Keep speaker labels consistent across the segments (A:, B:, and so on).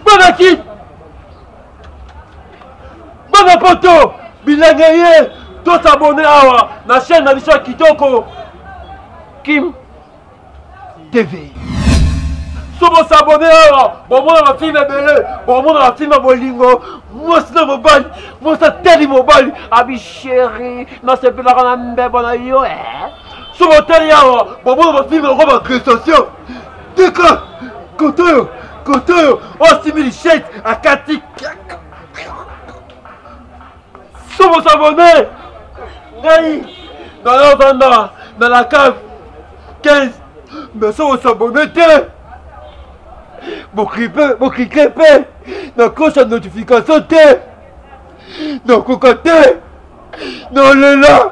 A: Bonaki Bana poto bilenge ye tosabone awa na chaîne na biso ya kitoko Kim TV. So bo s'abonner awa, bo mona ba film ebele, bo mona ba film bolingo, mwasi na mobali, mwasi atali mobali, abi chéri, nasepelaka na mbebo na yo eh. So botali awa, bo mona ba film yango ba prestation. Tika, koto oyo, koto oyo, osimbi lishete, akati kaka. somo sabone ngai naya vanda na la cave 15 mais somo sabone te boklike mpe na cloche ya notification te nakoka te nalela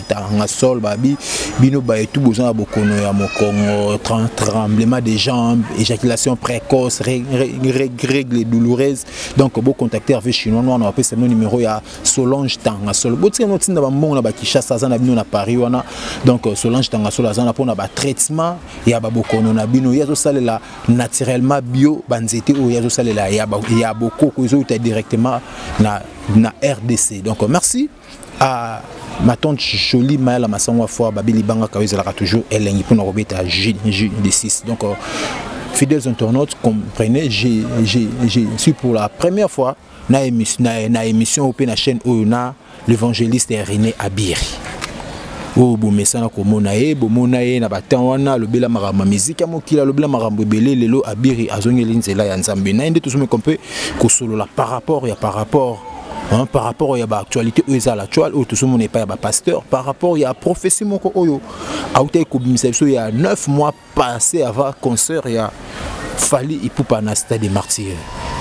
B: tanga sol babi bino baye tout boza na bokono ya mokongo tremblement de jambes éjaculation précoce règle douloureuse donc bo contacter avec chinois noir na bapesa bino numéro ya solange tanga sol botika no tinda bambongo na bakishasa aza na bino na paris wana donc euh, solange tanga sol aza na mpona batraitement ya babokono na bino ye azosalela naturellement bio banzete oyo ye azosalela ya bokoko ezouta directement na, na rdc donc euh, merci Ah, ma tante jolie mayala masango afwa babi libanga kayo ezalaka toujours elengi mpona kobeta jeu de 6 donc euh, fidèles internautes comprenez je, je, je suis pour la première fois na, émis, na, na émission oyo mpe na chaîne oyo na l'évangéliste rené abiri oyo bomesana komona ye bomona ye na batemp wana alobela makambo ya miziki ya mokili alobela makambo ebele lelo abiri azongeli nzela ya nzambe na ye nde tozomeka mpe kosolola par rapport ya par rapport Hein, par rapport ya baactualité oyo eza l'actual oyo tozomona epai ya bapasteur par rapport ya prophétie moko oyo autaki kobimisa biso ya 9 mois passé avant concert ya fali ipupa na stade de martyr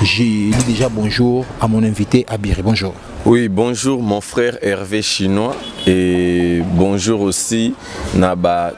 B: je dis déjà bonjour à mon invité abiri bonjour Oui, bonjour
C: mon frère Hervé Chinois et bonjour aussi Naba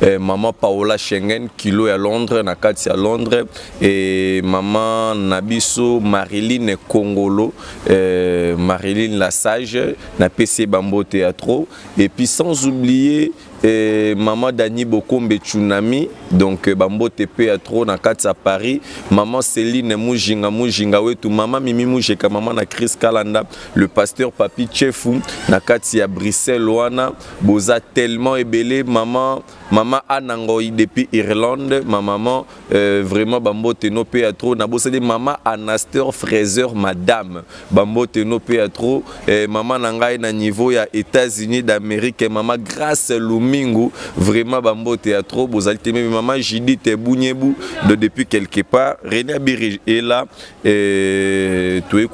C: eh, mama paola schengen kilo ya londres na kati ya londres e mama na biso mariline kongolo eh, mariline la sage napesi ye bambote ya trop et puis sans oublier eh, mama dani bokombe tsunami donc eh, bambote mpe ya trop na kati ya paris mama celine mujinga mujinga wetu mama mimi mujeka mama na chris kalanda le pasteur papi chefu na kati ya bruxelles wana boza tellement ebele maman maman ana ngoi depuis irlande ma maman euh, vraiment bambote no mpe ya trop nabosani maman anaster fraiseur madame bambote no mpe ya trop euh, maman na ngai na niveau ya états-unis d'amérique maman grace lumingu vraiment bambote ya trop bozali te meme maman judith bunyebu de depuis quelque part renia biri ela Et toye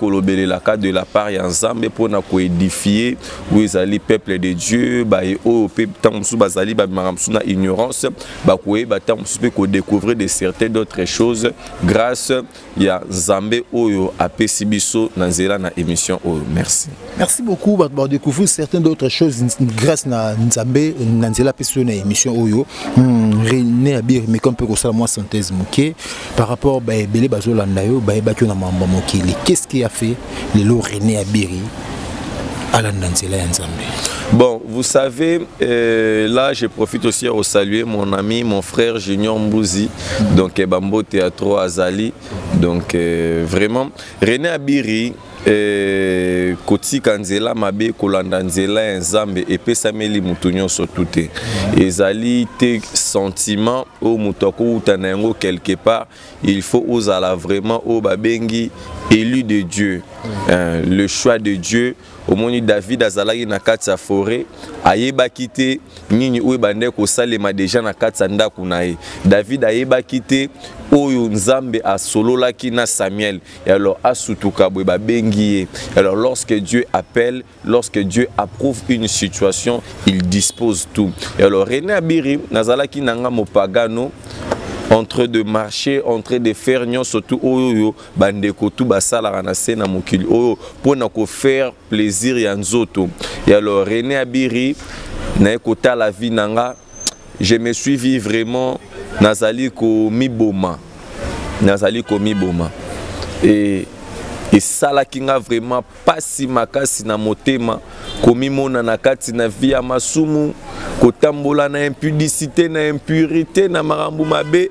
C: la cas de la part ya nzambe mpona koedifie oyo ezali peuple de dieu baye oyo mpe ntango mosusu bazali babimaka mosusu na ignorance bakoyeba ntango mosusu mpe découvrir de certains d'autres choses grâce ya nzambe oyo apesi biso na nzela na émission oyo merci Merci beaucoup bato
B: ba découvrir certaines d'autres choses grâce na Nzambe na nzela pe sur na émission oyo hmm, René ya bière mais comme peut ko sala moi synthèse moké par rapport ba belé ba zolanda yo ba ba na mamba mokili qu'est-ce qui a fait les lo René ya bière alanda nzela ya Nzambe
C: Bon, vous savez, euh, là, je profite aussi à saluer mon ami, mon frère Junior Mbouzi, donc eh, Bambo Théâtre Azali. Donc, euh, vraiment, René Abiri, Eh, kotika nzela mabe kolanda nzela ya nzambe epesameli moto nyonso tu te ezali te sentiment oyo moto akowuta na yango quelque part il faut ozala vraiment oyo babengi élu de dieu euh, le choix de dieu omoni david azalaki na kati ya foret ayebaki te nini oyo ebandaki kosalema deja na kati ya ndako na ye david ayebaki te oyo nzambe asololaki na samuel Et alors, Asutukabwe Babengiye. Alors, lorsque Dieu appelle, lorsque Dieu approuve une situation, il dispose tout. Et alors, René Abiri, Nazalaki Nanga Mopagano, en train de marcher en train de faire nyonso tu oyo oyo bandeko tu basalaka na se na mokili oyo mpo na kofaire plaisir ya nzoto ya lo René Abiri naye kotala vie na nga je me suis vu vraiment nazali komiboma nazali komiboma e esalaki nga vraiment mpasi makasi na motema komimona na kati na vie ya masumu kotambola na impudicité na impurité na makambo mabe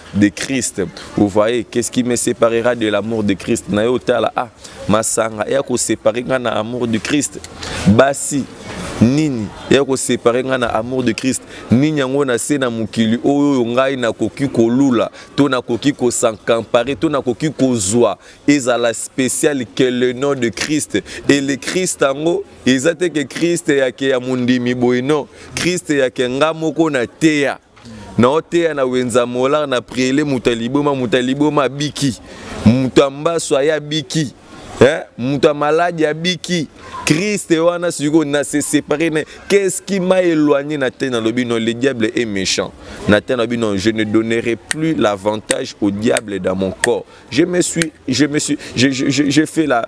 C: de Christ. Vous voyez, qu'est-ce qui me séparera de l'amour de Christ Na yo tala ah masanga ya ko séparer nga na amour du Christ. Basi nini ya ko séparer nga na amour de Christ. Nini yango na se na mokili oyo ngai nakoki kolula to nakoki ko s'encamparer to nakoki kozwa ezala spécial que le nom de Christ et le Christ yango eza te que Christ ya ke ya mondimi boye non Christ ya ke nga moko na teya na oteya na wenza molar na priele moto ya liboma moto ya liboma abiki moto ya mbaso aye abiki eh? moto ya maladi abiki kriste wana sikoyo na se séparé na qu'est-ce qui m'a éloigné na te nalobi non le diable est méchant na te nalobi non je ne donnerai plus l'avantage au diable dans mon corps je me suis je me suis je, je, je, je fais la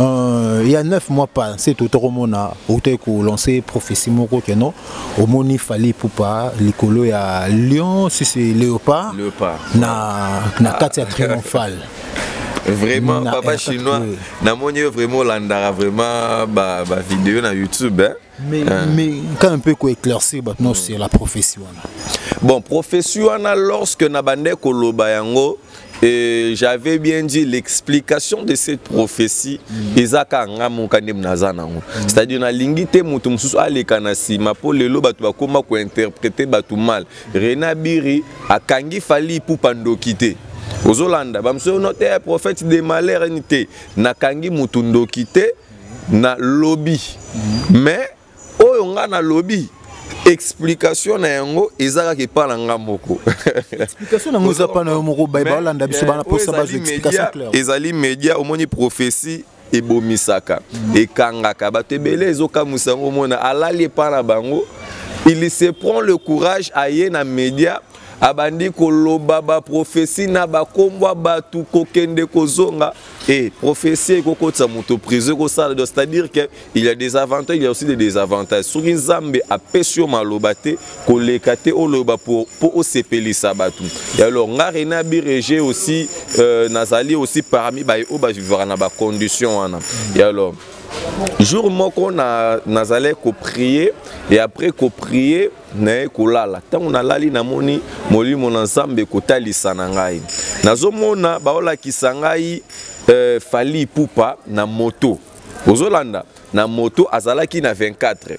B: Euh, il y a 9 mois pas c'est tout mona auto ko lancer prophétie moko que non au moni fallait pour pas likolo ya lion si c'est léopard léopard na na katia ah. triomphale vraiment
C: na papa chinois na moni vraiment landara vraiment ba ba vidéo na youtube hein? mais,
B: hein. mais quand un peu ko éclaircir maintenant mm. c'est la prophétie wana bon
C: prophétie wana lorsque na bande ko loba yango Et j'avais bien dit l'explication de cette prophétie mm. ezaka nga moka nde naza nango mm. c'est-à-dire na lingi te moto mosusu aleka na nsima mpo lelo bato bakoma kointerprete bato mal rena biri akangi fali ipupa ndoki te ozolanda bamosusu no te eh, prophète de malheur ni te nakangi moto ndoki te na lobi mm. mais oyo nga na lobi explication na yango eza kaka epa na nga moko explication na
B: yango eza pa na yo moko baye balanda biso bana posa bazwa explication claire ezali media omoni
C: prophetie ebomisaka mm. ekangaka bato ebele ezokamwisa yango omona alali epa na bango il se prend le courage aye na media abandi koloba baprofesi na bakombwa bato kokende kozonga e eh, profesi ekokotisa moto prison ekosala c'est-à-dire que il y a des avantages il y a aussi des désavantages soki nzambe apesi yo maloba te koleka te oloba mpo osepelisa bato alors nga rena birege aussi euh, nazali aussi parmi baye oyo bavivaka na bacondition wana et alors jour moko nazalaki na koprie et après koprie naye kolala ntango nalali namoni molimo na nzambe kotalisa na ngai nazomona baolakisa ngai euh, fali pupa na moto ozolanda na moto azalaki na 24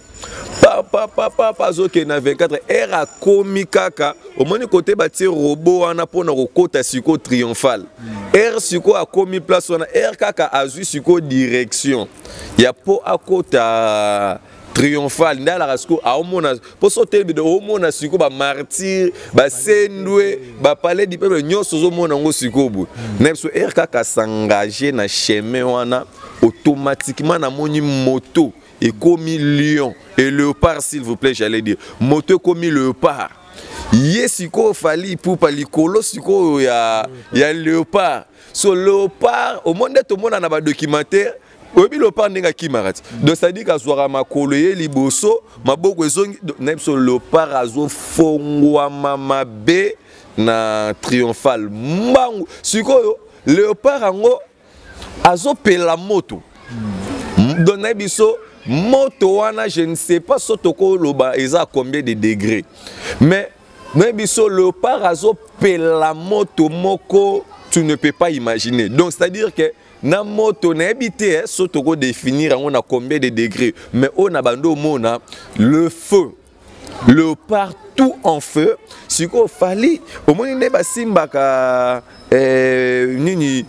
C: papapapapa azokende na 24 heure akomi kaka omoni kote batie robo wana mpona kokota siko triomphale heure siko akomi place wana heure kaka azwi siko direction ya mpo akota triomphal nde alaka sikoyo aomona mpo so telebide omona sikoyo bamartire basendwe bapale du peuple nyonso ozomona yango sikoyo boye hmm. na biso ere kaka s'engage na chemin wana automatiquement namoni moto ekomi lion et léopard s'il vous plaît j'allais dire moto ekomi léopard ye sikoyo fali ipupa likolo sikoyo ya, ya léopard so léopard omoni nde tomona na badocumentaire oyebi lopar ndenge akimaka ti donc cetadire kazwaka makolo ye liboso maboko ezongi na biso lopar azofongwama mabe na triomphal mbangu sikoyo leopard yango azopela moto donc na biso moto wana je ne sais pas so tokoloba eza combien de degré mais na biso leopard azopela moto moko tu ne peux pas imaginer donc c'est à dire que na moto nayebi te eh, so tokodefinir yango na combien de degré mais oyo na bando omona le feu le partout en feu sikoyo fali omoni nde basimbaka eh, nini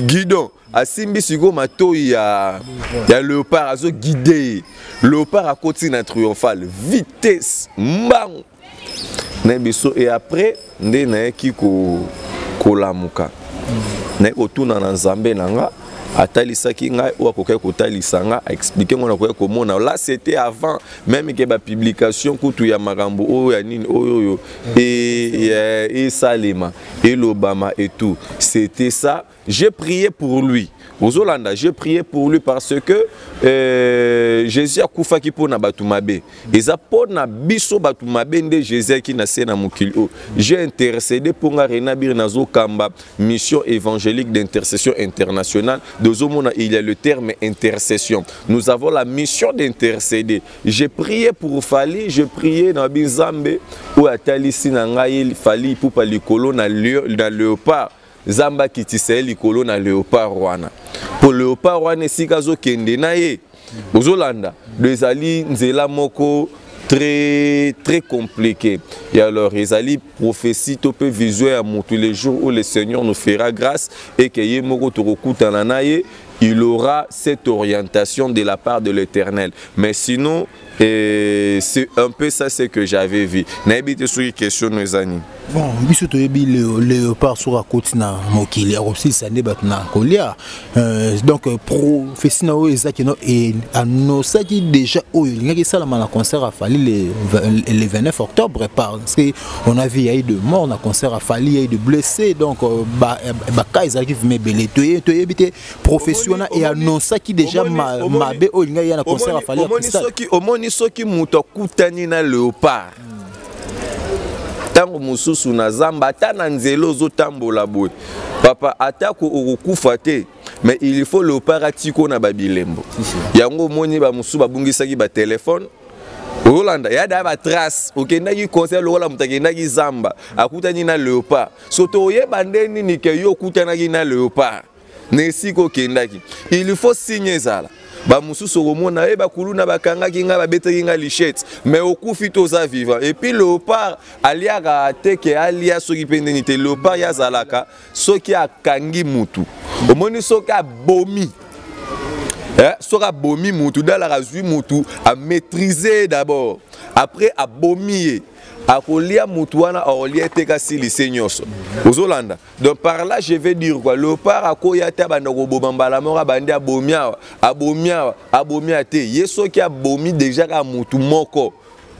C: guidon asimbi sikoyo matoi ya, ya leopard azoguide ye leopard akoti na triomphale vitesse mbangu na biso et après nde nayaki kolamuka naye kotuna na nzambe na nga atalisaki ngai oyo akokaki kotalisa ngai aexplike ngai nakokaki komona la c'était avant meme ke bapublication kutu ya makambo oyo ya nini oyo oyo esalema elobama et tout c'était ça J'ai prié pour lui. Ozolanda, j'ai prié pour lui parce que euh, Jésus a koufa ki pona batumabe. Eza pona biso batumabe nde Jésus ki na sena mukili. Oh, j'ai intercédé pour nga renabir na zokamba mission évangélique d'intercession internationale. Dozo mona il y a le terme intercession. Nous avons la mission d'intercéder. J'ai prié pour Fali, j'ai prié na Binzambe ou atali sinangaï Fali pour palikolo na, na léopard. Nzambe akitisa ye likolo na leopard wana mpo leopard wana esika azokende na ye ozolanda do ezali nzela moko très très compliqué et alors ezali prophétie to mpe vision ya motu le jour où le seigneur nous fera grâce et que ye moko tokokutana na ye il aura cette orientation de la part de l'éternel mais sinon Et c'est un peu ça ce que j'avais vu. Nayebi te soki question no eza nini. Bon, biso toyebi
B: le léopard soki akoti na mokili akosilisa nde bato na kolia. Euh, donc euh, prophétie na oyo ezaki no e annoncaki déjà oyo elingaki esalama na concert à Fally le, le 29 octobre parce que on a vu yayi de mort na concert à Fally yayi de blessé donc euh, ba ba cas ezalaki vime ebele toyebi toyebi te professiona e annonsaki deja mabe oyo elingai ya na concert ya fali omoni soki
C: moto akutani na leopard ntango mosusu na zamba ata na nzela ozotambola boye papa atako okokufa te mais il faut leopard atiko na babilembo yango omoni bamosusu babungisaki batelefone olanda ya da batrace okendaki concert lokola moto akendaki zamba akutani na leopard soto oyeba nde nini ke yo okutanaki na leopard na esika okendaki il faut signe ezala bamosusu okomona ye eh, bakuluna bakangaki ngai babetaki ngai lichette mais okufi toza vivant epuis leopard aliaka te ke alia soki mpe ndeni te leopard ye azalaka soki akangi mutu omoni soki abomi eh, soki abomi mutu dalaka azwi mutu amaîtrise ye d'abord après abomi ye akolia mutu wana akolia te kasi lise nyonso ozolanda donc par là je vais dire quoi leopard akoya ata abanda koboma mbala moko abandi abomi awa abomi awa abomi awa te ye soki abomi déjà kaka motu moko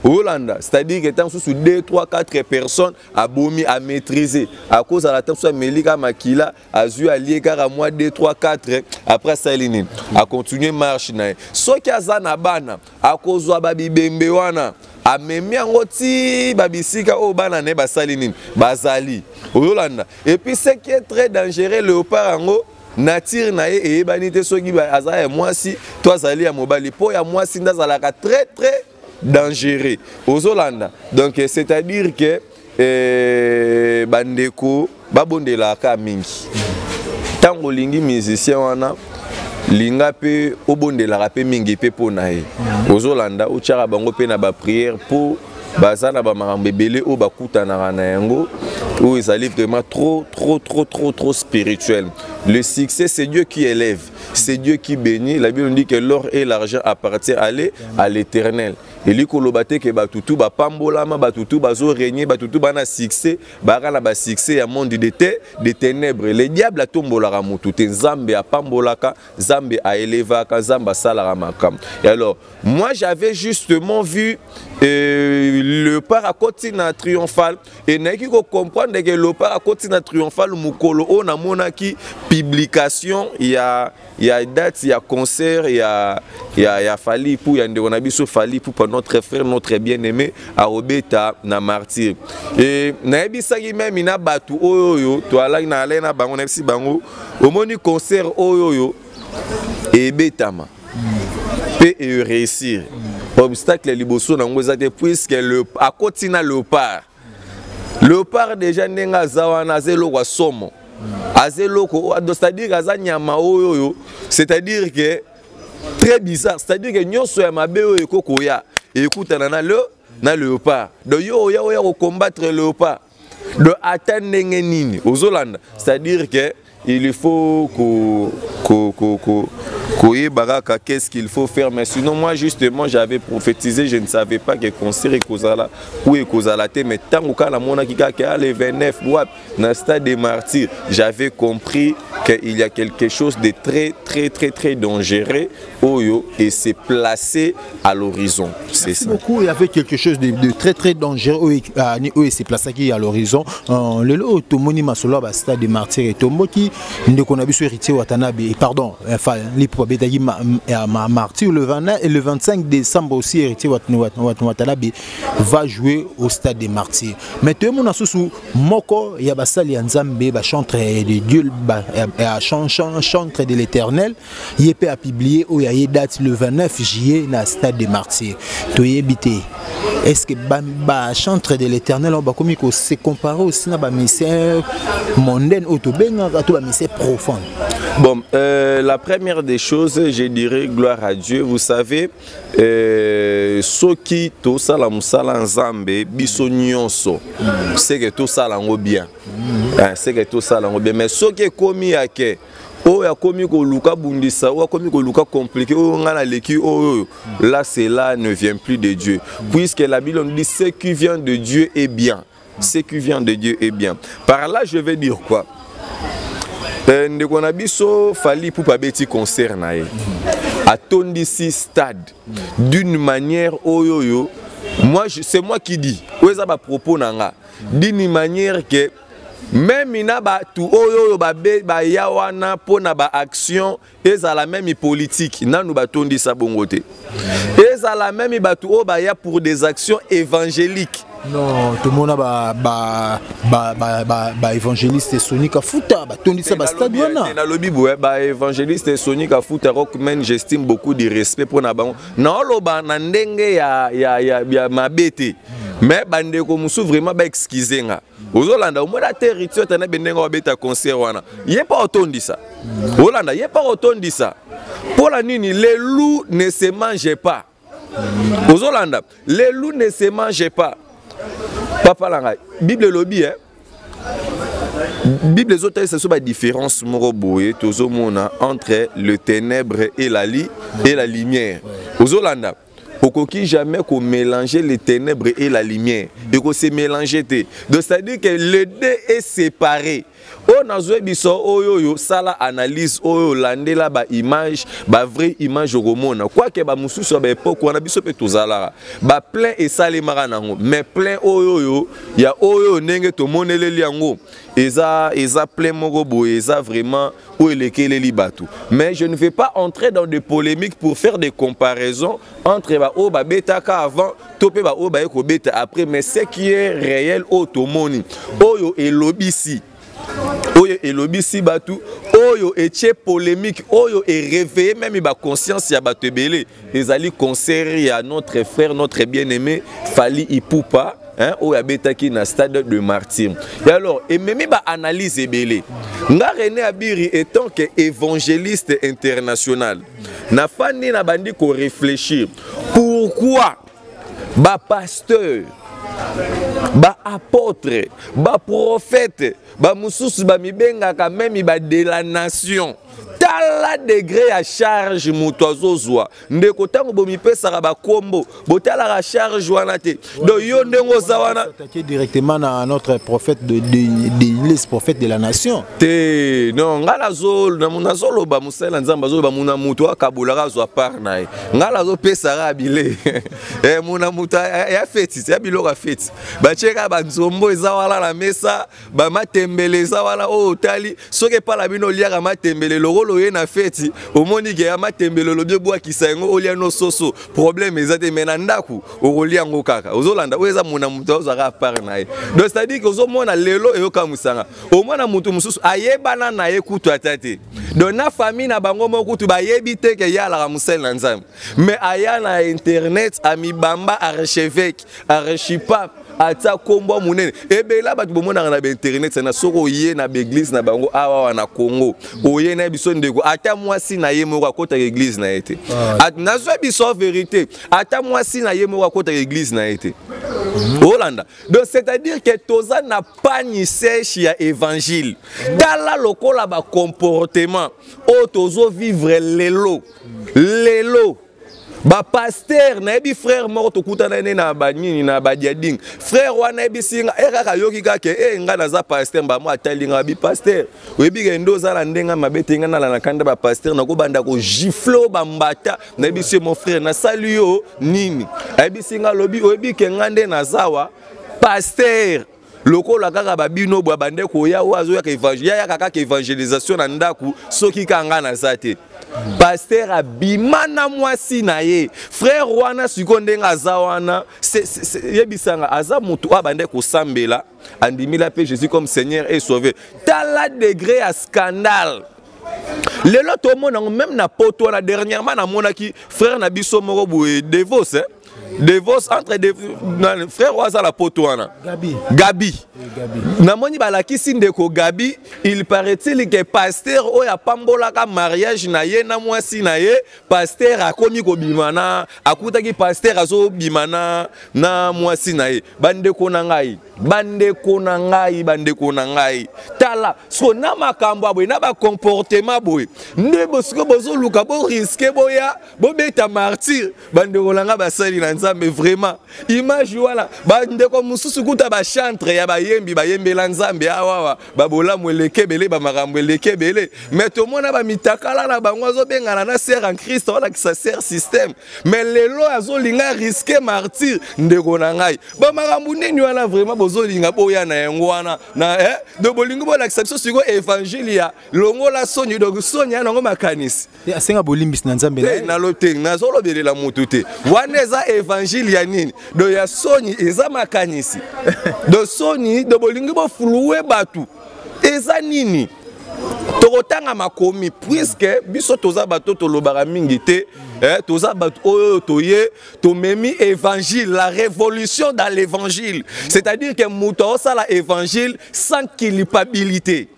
C: olanda c'est-à-dire que ntango mosusu 2 3 4 personnes abomi amaîtrise akozala ntango mosusu ameli kaka makila azwi alie kaka mwa 2 3 4 après asaleli nini acontinue marche na ye soki aza na bana akozwa babibembe wana amemi yango ti babisika oyo bana na ye basali nini bazali oyolanda epuis ce qui est très dangereux léopard yango nature na ye eyebani te soki aza ya mwasi to azali ya mobali mpo ya mwasi nde azalaka très très dangereux ozolanda donc c'est à dire que Eh, bandeko babondelaka mingi ntango olingi musicien wana linga mpe obondelaka mpe mingi mpe mpo na ye ozolanda otyaka bango mpe na bapriere mpo baza na bamakambo ebele oyo bakutanaka na yango oyo ezali vraiment trop trop trop trop trop spirituel le succès c'est dieu qui élève c'est dieu qui bénit la bible dit que l'or et l'argent appartient aller à l'éternel elingi koloba te ke bato tu bapambolama bato tu bazoregne bato tu bana succès baka na basuccès ya monde de te de ténèbre le diable atombolaka motu te nzambe apambolaka nzambe aelevaka nzambe asalaka makambo et alors moi j'avais justement vu euh, le par akoti na triomphal e nayaki kocomprendre ke le par akoti na triomphal mokolo oyo namonaki publication ya ya date ya concert ya ya ya Fally pour ya ndeko na biso Fally pour notre frère notre bien-aimé Arobeta na martyr et nayebisaki meme na batu oyo oyo to alaki na alai na bango nayebisi bango omoni concert oyo oyo ebetama pe e réussir obstacle liboso na yango eza te puisque le akoti na leopard leopard deja ndenge aza wana aza eloko ya somo aza eloko c'est-à-dire aza nyama oyo oyo c'est-à-dire que très bizarre c'est-à-dire que nyonso ya mabe oyo eko koya ekutana na le na leopard donc yo oya oya kocombattre leopard donc ata ndenge nini ozolanda c'est-à-dire que il faut ko ko ko, ko koyeba kaka qu'est-ce qu'il faut faire mais sinon moi justement j'avais prophétisé je ne savais pas que concert ekozala ou ekozala te mais ntango kaka namonaki kaka le 29 wapi na stade de martyr j'avais compris qu'il y a quelque chose de très très très très dangereux oyo et se placer à l'horizon c'est ça beaucoup il y avait quelque chose
B: de, de très très dangereux oyo ah, oyo se plaçaki à l'horizon euh, lelo oyo tomoni masolo ya bastade de martyr etomboki ndeko na biso héritier watanabe pardon enfin lipo abetaki martyr le 20 et le 25 décembre aussi héritier watanabe va jouer au stade de martyr mais toyemona susu moko ya basali ya nzambe bachantre de dieu bachantre de l'éternel ye mpe apiblie oyo aye date le 29 juillet na stade de martyr toyebi te est ce que bachantre ba de l'éternel oyo bakomi kose compare aussi na bamisère mondaine oyo tobengaka to bamisère profane Bon, euh,
C: la première des choses, je dirais gloire à Dieu. Vous savez, euh, ceux qui tout ça la musala nzambe biso nyonso, c'est que tout ça lango bien. Mm. Hein, c'est que tout ça lango bien. Mais ceux qui commis à que oyo akomi koluka bundisa oyo akomi koluka compliqué oyo ngai naleki oyo là cela ne vient plus de dieu puisque la bible nous dit ce qui vient de dieu est bien ce qui vient de dieu est bien par là je vais dire quoi euh, ndeko na biso fali pupa abeti concert na ye atondisi stade d'une manière oyo oyo moi c'est moi qui dis oyo eza bapropos na nga d'une manière que meme na bato oyo oyo baya wana mpo na baaction ezala meme politike nanu batondisa bongo te ezala meme bato oyo baya pour des actions évangéliques non tomona
B: baévangéliste soni kafuta batondisa bastade wana nalobi boye
C: baévangéliste soni kafuta rockman j'estime beaucoup de respect mpo na bango naoloba na ndenge ya mabe te mais bandeko mosusu vraiment baexcuse nga ozolanda omona ata héritier ata na bendenge wabeta concert wana ye mpa otondisa olanda ye mpa otondisa mpola nini le loup ne se mange pas ozolanda le loup ne se mange pas papa na ngai bible elobi eh? bible ezotalisa biso badifférence moko boye tozomona entre le ténèbre et la, li, et la lumière ozolanda okoki jamais ko mélanger les ténèbres et la lumière et ko se mélanger te donc c'est à dire que le deux est séparé oyo nazwi biso oyo oyo sala analyse oyo olandela baimage bavrai image okomona kwake bamosusu ya baepoke wana biso mpe tozalaka baplein esalemaka na yango mais plein oyo oyo ya oyo oyo ndenge tomoneleli yango eza eza plein moko boye eza vraiment oyo elekeleli bato mais je ne vais pas entrer dans des polémiques pour faire des comparaisons entre baoyo babetaka avant to mpe baoyo baye kobeta après mais ce qui est réel oyo tomoni oyo elobisi oyo elobisi bato oyo etie polémique oyo ereveille meme baconscience ya bato ebele ezali concert ya notre frère notre bien aimé fali ipupa hein, oyo abetaki na stade de martyr et alors ememi baanalyse ebele nga rené abiri étant que évangéliste international nafandi na bandi koréfléchir pourquoi bapasteur baapôtre baprofete bamosusu bamibengaka meme ba de la nation tala degre ya charge moto azozwa ndeko ntango bomipesaka bakombo botalaka charge wana te donc yo ndenge oza wana directement na
B: notre prophète de, de, de, les prophète de la nation te non
C: ngai nazoloba mosali na nzambe azoloba mona moto akabolaka azwa part na ye ngai nazopesaka bile eh, mona moto ya feti ya biloko ya feti batieka banzombo eza wana na mesa bamatembele eza wana oyo oh, otali soki epai na bino oliaka matembele lokolo oye na feti omoni ke ya matembele olobi obwakisa yango olia no soso probleme eza te mai na ndako okolia yango kaka ozolanda oyo eza mona moto ozwaka apart na ye donc cetadire ke ozomona lelo eyokamwisanga omona moto mosusu ayebana na ye kutu ata te donc na famille na bango moko kutu bayebi te ke ye alaka mosali na nzambe mais aya na internet amibamba archevêque archipape atia nkombo monene ebela bato bomonaka na bainternet na soki oye na baeglize na bango awawa na congo oye na ye biso ndeko ata mwasi na ye moko akotaka eglize na ye te ah. nazwa biso verité ata mwasi na ye moko akotaka eglize na ye te mhm. olanda donc c'est-à-dire que toza na pani sèche ya évangile tala lokola bacomportement oyo tozovivre lelo lelo bapaster nayebi frère moko tokutana ne na banini na badiading frère wana ayebisi nga e kaka ayoki kaka e eh, ngai naza paster mbamo atali nga abi paster oyebi ke nde oza na ndenge mabe te ngai nalalaka nde bapaster nakobanda kogiflo bambata nayebisi ye mon frère nasali yo nini ayebisi nga alobi oyebi ke ngai nde nazawa paster lokola kaka babino bwa bande koya oyo azoyaka yayaka kaka evangelisation na ndako soki kaka ngai naza te paster abima na mwasi na ye frere wana sikoyo ndenge aza wana yebisanga aza motu oyo abande kosambela andimila mpe jésus comme seigneur et sauve tala degre ya scandale lelo tomona yango meme na poto wana dernièrement namonaki frere na biso moko boye devos eh? devos entre de, na, frère oyo aza na poto wana gabi, gabi. gabi. namoni balakisi ndeko gabi il paraît-il ke paster oyo apambolaka mariage na ye na mwasi na ye paster akomi kobima na akutaki paster azobima na, na mwasi na ye bandeko na ngai bandeko na ngai bandeko na ngai tala so na makambo ya boye na bacomportement boye nde bosiko bozoluka boriske boya bobeta martyr bandeko na ngai basali na nzambe vraiment image wana bandeko mosusu kuta bachantre ya bayembi bayembela nzambe awawa babolamu eleki ebele bamakambo eleki ebele mai tomona bamitakala na bango azobengana na ser en christ alakisa ser systeme mai lelo azolinga riske martyr ndeko na ngai bamakambo nini wana vraiment bozolinga boya na yango wana na eh? do bolingi bolakisa biso sikoyo evangile ya longola soni donc soni ya nango makanisi Eh, asenga bolimbisi na
B: nzambe te nalo te nazolobelela
C: motu te wana eza evangile ya nini do ya soni eza makanisi do soni do bolingi bofuluwe bato eza nini tokotanga makomi puiske biso toza bato tolobaka mingi te eh, toza bato oyo toye tomemi évangile la révolution dans l'évangile c'est-à-dire que moto aosala évangile sans culpabilité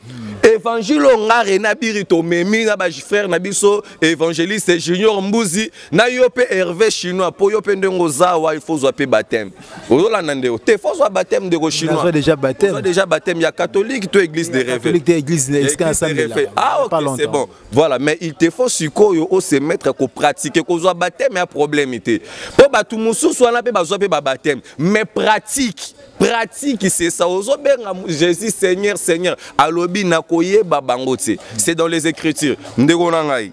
C: évangile oyo nga rena biri tomemi na bafrère na biso évangéliste junior mbuzi na yo mpe herve chinois mpo yo mpe ndenge oza wa il faut ozwa mpe bateme ozolanda ndeko te fo ozwa bateme ndeko chinois déjà bateme déjà
B: bateme ya catholique to
C: église de rêve église de
B: rêve ah
C: ok c'est bon voilà mais il te faut sikoyo o se mettre ko pratiquer kozwa bateme ya problème te mpo bato mosusu wana mpe bazwa mpe ba bateme mais pratique pratique c'est ça ozobenga jésus seigneur seigneur alobi nakoyeba bango te c'est dans les écritures ndeko na ngai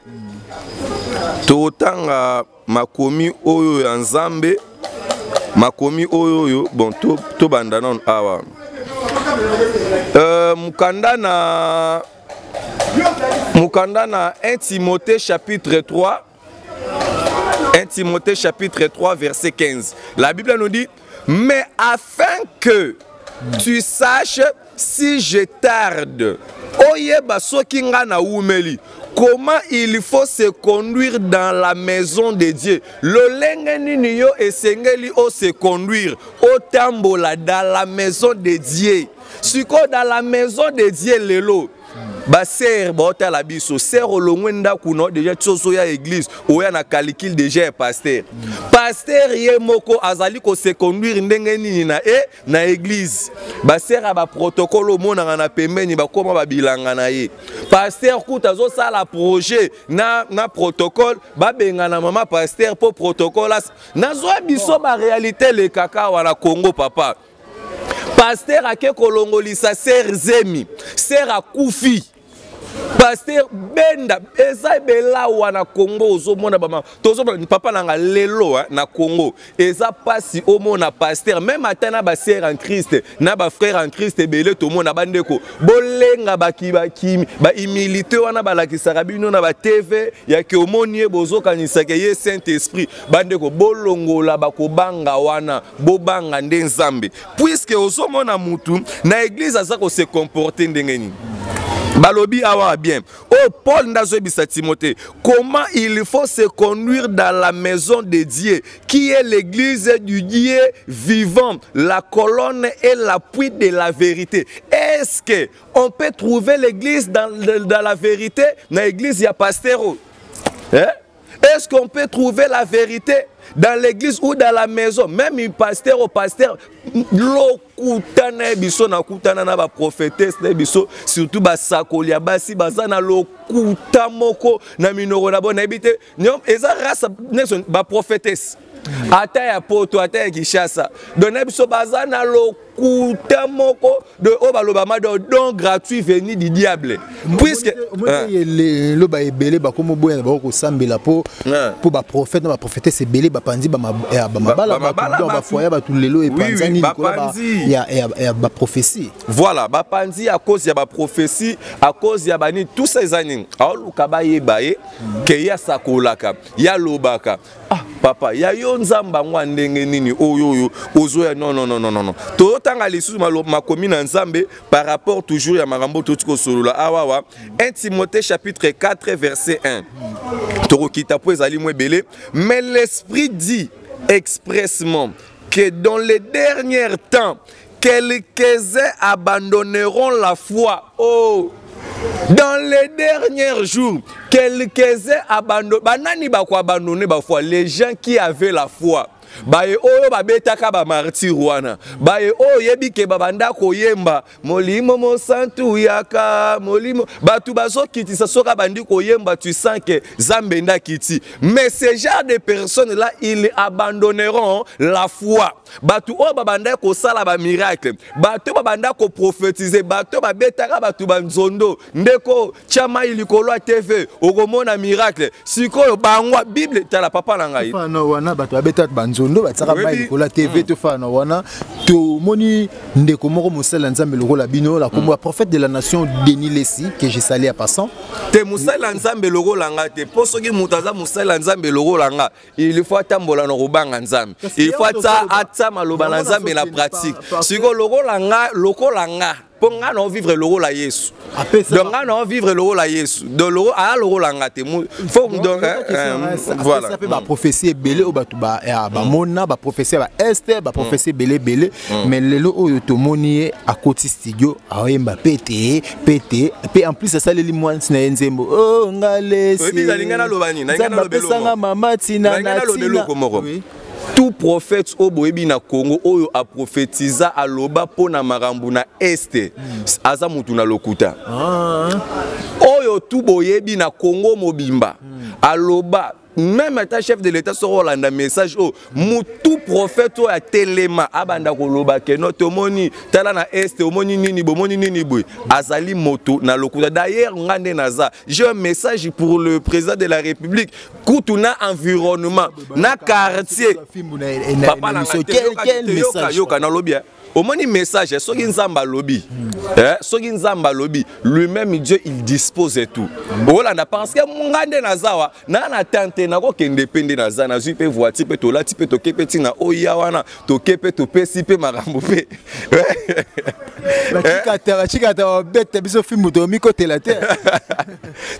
C: totanga makomi oyo ya nzambe makomi oyo oyo bon tobanda nano awa euh, mokanda na mokanda na 1 timothée chapitre 3 1 Timothée chapitre 3 verset 15. La Bible nous dit, mais afin que tu saches si je tarde, oyeba soki nga na wumeli, comment il faut se conduire dans la maison de Dieu. Lolenge nini yo esengeli o se conduire, o tambola dans la maison de Dieu. Siko dans la maison de Dieu lelo, ba sœur baotala biso sœur olongwe ndako na déjà soso ya église oya na calcul déjà ya pasteur pasteur ye moko azali ko se conduire ndenge nini na e na église ba sœur ya ba protocole omonaka na pembeni bakoma babilanga na ye pasteur kuta azosala projet na, na protocole babengana mama pasteur mpo protocole nazwa biso baréalité lekaka wana congo papa paster ake kolongolisa ser zemi ser akufi paster benda eza ebela wana congo ozomona bama tozomona papa nanga lelo eh, na congo eza mpasi omona paster meme ata na basere en christ na bafrere en christ ebele tomona bandeko bolenga bakibakimi baimilité wana balakisaka bino na batv yake omoni ye bozokanisaka ye saint esprit bandeko bolongola bakobanga wana bobanga nde nzambe puiske ozomona mutu na eglize aza kose comporte ndenge nini balobi awa bien oyo oh, paul nde azoyebisa timote comment il faut se conduire dans la maison de dieu qui est l'église du dieu vivant la colonne et l'appui de la vérité est ce que on peut trouver l'église dans, dans la vérité na église ya pastero eh? Est-ce qu'on peut trouver la vérité dans l'église ou dans la maison Même un pasteur au pasteur, lokutana biso na kutana na ba prophétesse na biso surtout ba sakoli ya basi baza na lokuta moko na minoko na bona ebite eza race neso ba prophétesse ata ya poto ata ya kinshasa donc na biso baza na lokuta moko de oyo balobama do don gratuit veni du diable puisque
B: loba ebele bakomoboya na bango kosambela mpo mpo baprofete na baprofetese ebele bapanzi bamabala bafoya bato lelo epanzani likolo ya baprofesi voilà bapanzi à cause
C: ya baprofesi à cause ya banini tout ça eza nini aoluka bayeba ye ke ye asakolaka ye alobaka Ah, papa ya yo nzambe yango ya ndenge nini oyo oyo ozoya non non non non non totanga lisusu makomi na nzambe par rapport toujours ya makambo toti kosolola awawa 1 timothée chapitre 4 verset 1 tokokita mpo ezali mwa ebele mais l'esprit dit expressement que dans les derniers temps Quelques-uns abandonneront la foi. Oh! Dans les derniers jours, quelques-uns abandonneront. Banani ba ko abandonner ba foi? Les gens qui avaient la foi. baye oyo babetaka bamartire wana baye oyo oyebi ke babanda koyemba molimo mosantu yaka molimo bato bazokitisa soki abandi koyemba tu sens ke zambe nde akiti mais ce genre de personne là ils abandonneront la foi bato oyo babandaki kosala bamiracle bato oyo babandaki koprofetize bato oyo babetaka bato banzondo ndeko tya mai likolo ya tv okomona miracle sikoyo bango bible tala papa na ngai fana wana bato babetaka
B: banzondo batiaka mai likolo ya tv hmm. to fana wana tomoni ndeko moko mosali ya nzambe lokola bino la kombo ya hmm. prophète de la nation denis lesi que je sali ya passant te mosali ya
C: nzambe lokola nga te mpo soki moto aza mosali ya nzambe lokola nga il faut atambola na kobanga nzambe il faut atsa atsa maloba na nzambe na pratique siko lokola nga lokola nga mpo ngai nao vivre lokola yesu donc ngai nao vivre lokola yesu donc loko aya lokola nga te fo donc voilà
B: mpe
C: baprophétie
B: ebele oyo bato bamona baprophétie ya baeste baprophétie ebele ebele mais lelo oyo tomoni ye akoti studio aoyemba mpe te pete pe en plus asaleli mwansi na ye nzembo o oh, ngalesapesanga
C: mama tina
B: na tina tout
C: prophète oyo boyebi na congo oyo aprofetiza aloba mpo na makambo na este aza motu na lokuta ah. oyo tu boyebi na congo mobimba hmm. aloba meme ata chef de l'état soko olanda message oyo mutu prophète oyo atelema abanda koloba keno tomoni tala na est omoni nini bomoni nini boye azali moto na lokuta d'ailleurs nga nde naza j'ai un message pour le président de la république kutu na environnement
B: na
C: quartier papa
B: na
C: yoka
B: nalobi
C: omoni message soki nzambe alobi eh, soki nzambe alobi lui-même dieu il dispose et tout okolanda parce que nga nde naza wa naa na tente nakokende mpe nde naza nazwi mpe voiture mpe tolati mpe toke mpe ntina oya wana toke mpe topesi mpe makambo mpe
B: bacikata babeta biso fimbu tomikotela te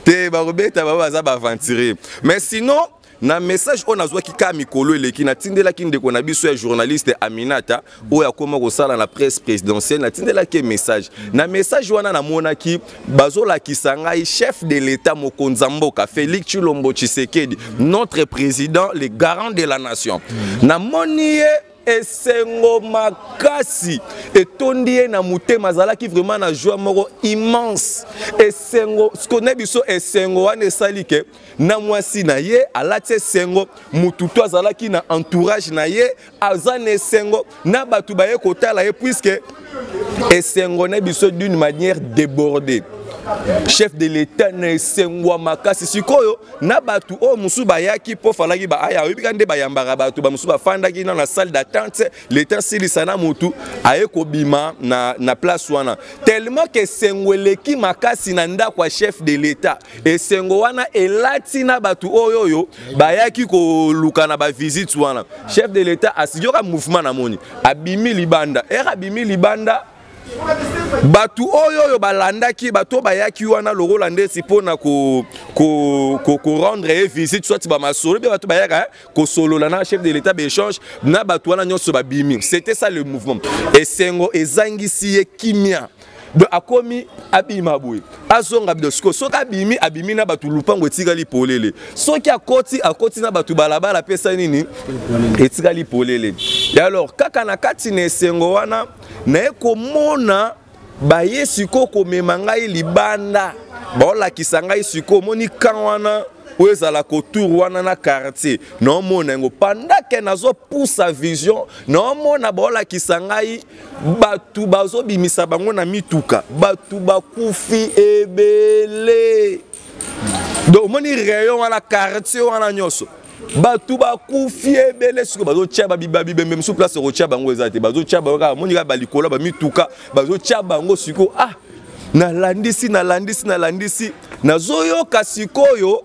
B: te
C: bakobeta bango baza baaventurier mais sinon na message oyo nazwaki kaka mikolo eleki natindelaki ndeko na biso ya journaliste aminata oyo akoma kosala na presse présidentielle natindelaki ye message na message wana namonaki bazolakisa ngai chef de l'état mokonzi ya mboka félix tshilombo tshisekedi notre président le garant de la nation namoni ye esengo makasi etondi ye na motema azalaki vraiment na joie moko immense esengo siko na biso esengo wana esali ke na mwasi na ye alati esengo motu to azalaki na entourage na ye aza na esengo na bato baye kotala ye puiske esengo na biso d'une manière débordée chef de l'état na esengwa makasi sikoyo na bato oyo mosusu bayaki mpo falaki baaya oyebi ka nde bayambaka bato bamosusu bafandaki na na salle d'attente leta asilisa na motu aye kobima na, na place wana tellement ke esengo eleki makasi na ndako ya chef de l'état esengo wana elati na bato oyo oyo bayaki koluka na bavisite wana chef de l'état asiyoka mouvement na moni abimi libanda ere abimi libanda bato oyo oyo balandaki bato bayaki wana lokola ndesi mpo na korendre ye visite soit bamasolo mpe bato bayaka eh, kosolola na chef de l'état baechange na bato wana nyonso babimi c'était ça le mouvement esengo ezangisi ye kimia donc akomi abima boye azonga bido sikoyo soki abimi abimi na bato lupango etikali polele soki akoti akoti na bato balabala apesa nini etikali polele e alors kaka na kati na esengo wana naye komona baye sikoyo komema ngai libanda baolakisa ngai sikoyo omoni kan wana oyo ezala kotour wana na quartier naomona yango pendant ke nazopusa vision naomona baolakisa ngai bato bazobimisa bango na mituka bato bakufi ebele donc omoni rayon wana quartier wana nyonso bato bakufi ebele sikoyo bazotya babibembe mosusu place okotya bango eza te bazotya bango kaka moni kaka balikola bamituka bazotya bango sikoyo ah nalandisi nalandisi nalandisi nazoyoka sikoyo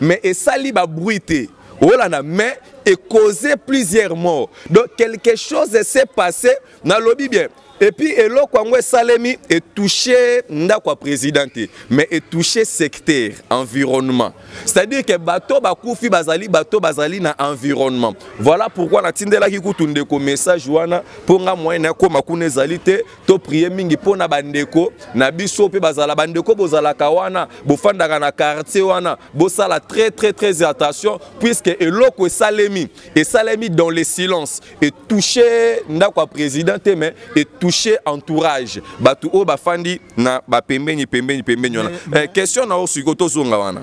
C: mais esali ba bruit te olanda mais et causer plusieurs morts donc quelque chose s'est passé nalobi bien et puis eloko yango esalemi etouche ndako ya président te mais etouche secteur environnement c'est-à-dire que bato bakufi bazali bato bazali na environnement voilà pourquoi natindelaki kutu ndeko message wana mpo nga moyen nakoma kuna ezali te to prier mingi mpo na bandeko na biso mpe bazala bandeko bozalaka wana bofandaka na quartier wana bosala très très très attention puisque eloko esalemi esalemi dans le silence etouche ndako ya président te mais etouche entourage bato oyo bafandi na bapembeni pembeni pembeni wana eh, question na yo sikoyo tozonga wana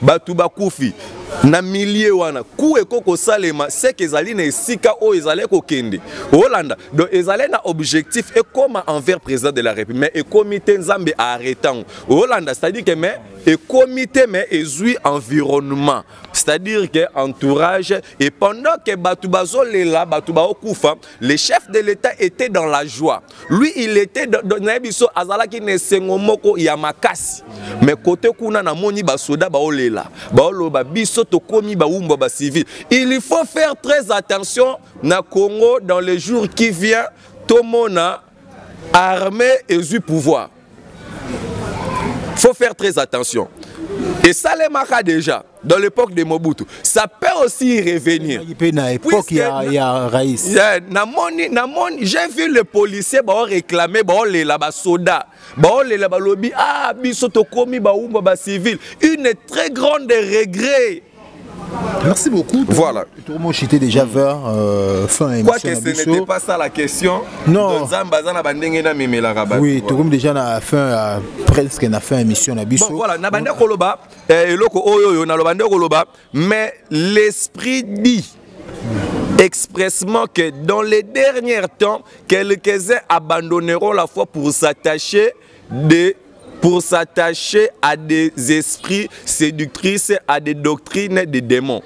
C: bato bakufi na milie wana ku ekoki kosalema seke ezali na esika oyo ezali kokende olanda donc ezali na objectif ekóma envers président de la république mais ekomi te nzambe aarrete yango olanda c'est-à-dire que mais ekomi te mais ezwi environnement c'est-à-dire que entourage et pendant que bato bazolela bato baokufa le chef de l'état était dans la joie lui il était na ye biso azalaki na esengo moko ya makasi mais kote kuna namoni basoda baolela baoloba biso tokomi bawumbwa bacivile il faut faire très attention na congo dans les jours qui vient tomona armée ezwi pouvoir faut faire très attention et ça les marquera déjà dans l'époque de Mobutu. Ça peut aussi revenir. Na époque il y
B: a, y a Raïs. Yeah, na moni, na moni,
C: j'ai vu les policiers ba réclamer ba les là ba soda, ba les là ba lobby ah biso to komi ba umba ba civil. Une très grande regret Merci
B: beaucoup. Voilà. Tout le monde
C: était déjà
B: vers euh, fin émission. Quoi que ce n'était pas ça
C: la question. Non. Zamba
B: zana bandenge na mimela rabat. Oui, tout le monde déjà na fin euh, presque na fin émission na biso. Bon voilà, na banda koloba
C: eh, eloko oyo yo na lo banda koloba mais l'esprit dit expressement que dans les derniers temps, quelques-uns abandonneront la foi pour s'attacher de pour s'attacher à des esprits séductrices, à des doctrines des démons.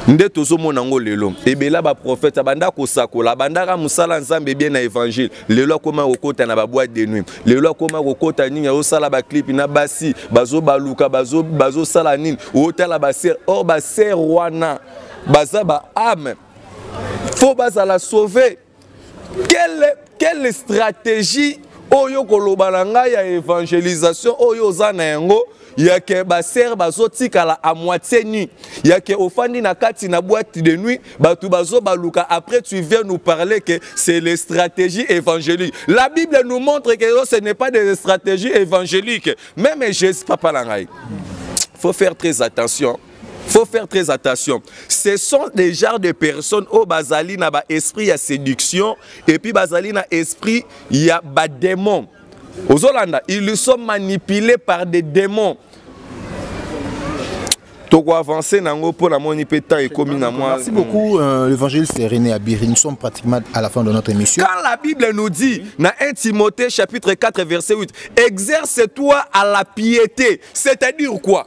C: nde tozomona yango lelo ebela baprofete abanda kosakola abandaka mosala ya nzambe ebie na évangile lelo akoma kokɔta na baboite de nuit lelo akoma kokɔta nini azosala baclipe na basi bazobaluka bazosala bazo nini otala basere or basere wana baza baame fo bazala sauve quelle, quelle stratégie oyo koloba na ngai ya évangélisation oyo oza na yango yake basere bazotikala a moitié nu yake ofandi na kati na boîte de nuit bato bazobaluka après tu viens nous parler que c'est les stratégies évangéliques la bible nous montre que ce n'est pas des stratégies évangéliques même jésus papa na ngai faut faire très attention faut faire très attention ce sont des genres de personnes oyo bazali na baesprit ya séduction et puis bazali na esprit ya badémon ozolanda ils sont manipulés par des démons toko avancer na yango mpo namoni mpe temps ekomi na mwa
B: merci beaucoup euh, l'évangile c'est René Abiri nous sommes pratiquement à la fin de notre émission quand la Bible nous dit
C: na 1 Timothée chapitre 4 verset 8 exerce-toi à la piété c'est-à-dire quoi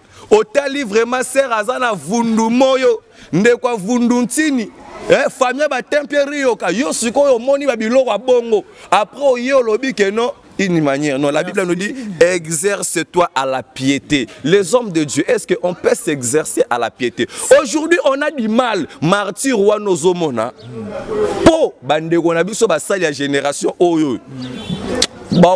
C: otali vraiment sere aza na vundu moyo ndeko avundu ntini eh, famille batempe riyoka yo sikoyo omoni babiloko ya bongo apres oye olobi ke non une manière. Non, la Bible nous dit exerce-toi à la piété. Les hommes de Dieu, est-ce qu'on peut s'exercer à la piété Aujourd'hui, on a du mal. Martyr ou Nozomona. Po, bande, on a vu sur la génération. Oh, oh. Bah,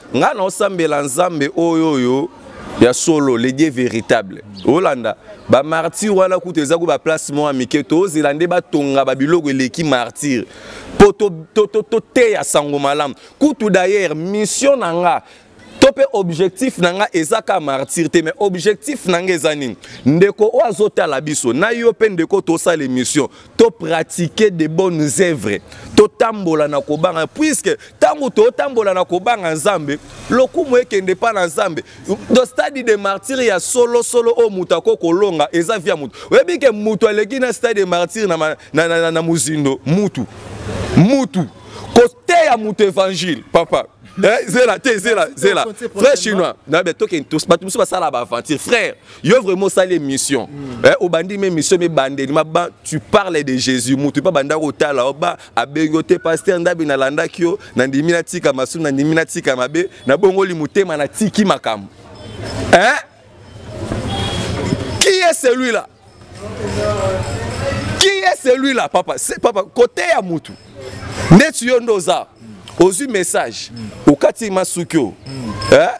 C: Nga na osambela nzambe oyo oyo ya solo le dieu véritable olanda ba martyr wana kutu eza ko ba place mwa mike tozela nde batonga ba biloko eleki martyr mpo toteya sango malamu kutu d'ailleurs mission na nga to mpe objectif na nga eza ka martyr te mais objectif na nga eza nini ndeko oyo azotala biso na yo mpe ndeko tosala émission to pratiquer de bonnes œuvres totambola na kobanga puisque ntango totambola na kobanga nzambe lokumu ekende epai na nzambe do stade de martyre ya solosolo oyo moto ako kolonga eza via moto oyebi ke moto aleki na stade de martyre na, na, na, na, na mozindo mutu mutu koteya moto evangile papa eh, zela te zela zela frère chinois bato mosusu basala baaventure frère Yo vraiment sale émission. Mm. Eh, obandi mais émission mais bandeli ma ba tu parles de Jésus mutu pas banda ko tala oba abengo te pasteur ndabi na landa kyo na ndimi na tika masu na ndimi na tika mabe na bongoli mutema na tiki makam. Hein? Qui est celui-là? Qui est celui-là papa? C'est papa côté ya mutu. Ndetu yo ndoza. Ozu message. Mm. Okati masukyo. Mm. Hein?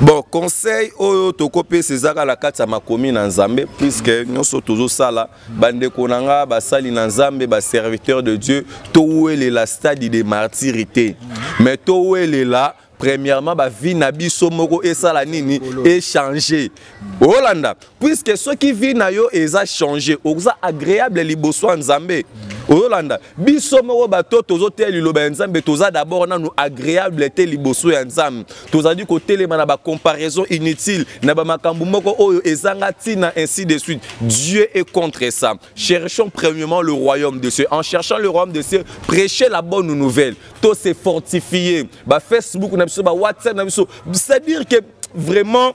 B: bon
C: conseil oyo tokopesa ezaka na kati ya makomi na nzambe puiske nyonso tozosala bandeko na nga basali na nzambe baserviteur de dieu towelela stade de martiri te mais towelela premièrement bavi na biso moko esala nini echange olanda puisque soki vie na yo eza change oza agréable liboso ya nzambe oyolanda biso moko bato tozoteya liloba ya nzambe toza dabord nanu agréable te liboso ya nzambe tozali kotelema na bacomparaison inutile na bamakambo moko oyo ezanga ntina ainsi de suite dieu est contre ça cherchons premièrement le royaume de dieu en cherchant le royaume de dieu prêcher la bonne nouvelle to se fortifier bafacebook na biso bawhatsapp na biso c'est-à-dire que vraiment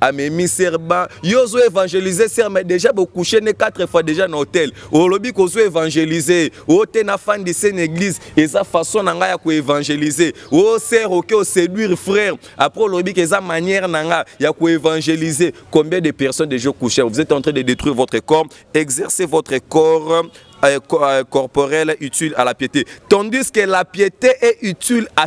C: amemi serba yo ozo évangélise ser mais déjà bokouche ne 4 fois déjà na hôtel olobi kozo évangélise o te na fandi se na église eza façon na ngai ya koévangélise o ser oke oséduire frère après olobi ke eza manière na ngai ya koévangélise combien de personnes déjà okouche vous êtes en train de détruire votre corps exercez votre corps euh, euh, corporel utile à la piété tandis que la piété est utile à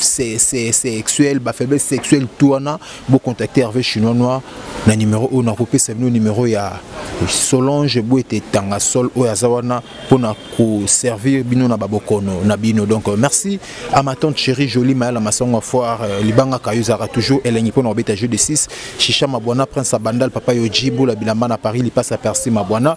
B: sexuel ba faiblesse sexuelle tout wana bo contacter Hervé chinois noir na numéro oyo nakopesa bino numéro ya Solange Boete Tanga Sol oyo aza wana pona ko servir bino na babokono na bino donc euh, merci à ma tante chérie jolie Mayala Masongo Foire euh, libanga kayo zara toujours elengi pona obeta jeu de 6 Chicha Mabwana Prince Abandal Papa Yoji Bola Bilamba na Paris lipasa Percy Mabwana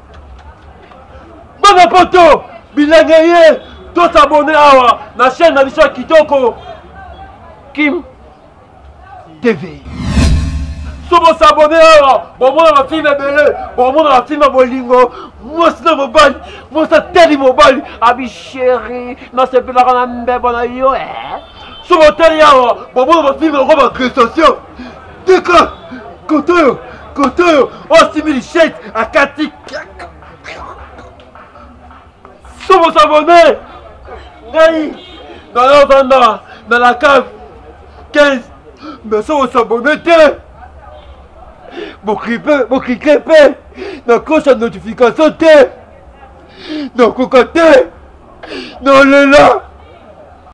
A: bana poto bilenge ye tosabone awa na chaîne na biso ya kitoko kim tv so bosabone awa bomona bafilme ebele bomona bafilme ya bolingo mwasi na mobali mwasi atali mobali abi sheri nasepelaka na mbebo na yo eh? soki otali awa bobona bafilme yango bagressation tika koto oyo koto oyo oyo asimbi lichete akati somo sabone ngai nayovanda na la cave 15 mais somo sabone te bokrike mpe nakosa notification te nakoka te nolela